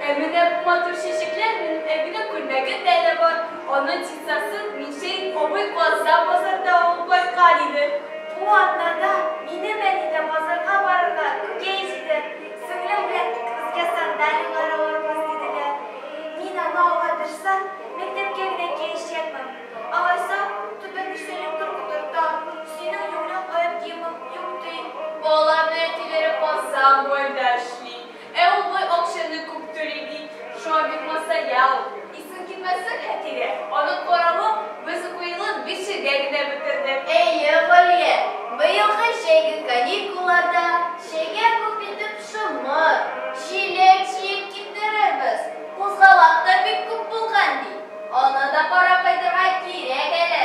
Ә менә бу матур чәчәкләр минем әбинең күлмәгендә дә бар, аның чистасын Мишәйт абый Казан базарында алып кайткан иде. Бу атнада минем әни дә базарга барырга үкей җиде. Сеңлем белән икебезгә сандалияләр алырбыз диделәр. Мин аны алга тырса, мәктәпкә генә киячәкмен. Алайса, түбән түшәле көр утырта, синең юләр кая киемең юк ди. Балаларның әтиләре Казан буенда эшли. Ә ул бай акчаны күп түли бит. Шуңа бик масая ул. Исең китмәсен, Хәтирә, аның каравы, без укуйылын бишегә генә бетердек. Әйе, Галия, быелгы җәйге каникулларда чәйгә күп итеп шомырт, җиләк җыеп китерербез. Кузгалак та бик күп булган бит. Аны да карап кайтырга кирәк әле.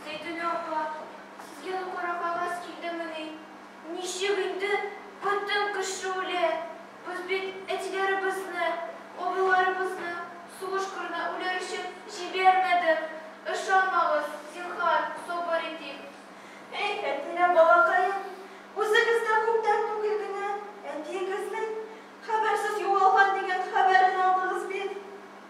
Зәйтүнә апа, сезгә дә кара кагаз килдемени? Ничек инде бөтен кеше үлә? Без бит әтиләребезне, абыйларыбызны сугыш кырына үләр өчен җибәрмәдек. Ышанмагыз, зинһар, сабыр итик. Эх, Фәтнинә балакаем, үзегез дә күптән түгел генә әтиегезнең хәбәрсез югалган дигән хәбәрен алдыгыз бит.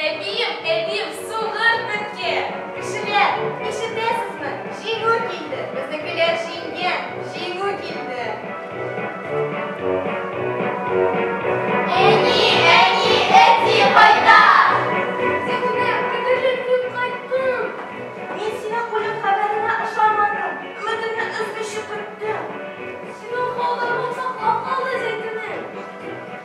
Әбием, әбием, сугыр бетке! Кешеләр, ишетәсезме? Җиңү килде! Безнекеләр җиңгән! Җиңү килде! Әни, әни, әти кайда? Сәкинә, кадерлем, мин кайттым! Мин синең үлем хәбәреңә ошамадым, өметемне өзмичә көттем. Синең калдырган саклап калды зәйтүнең.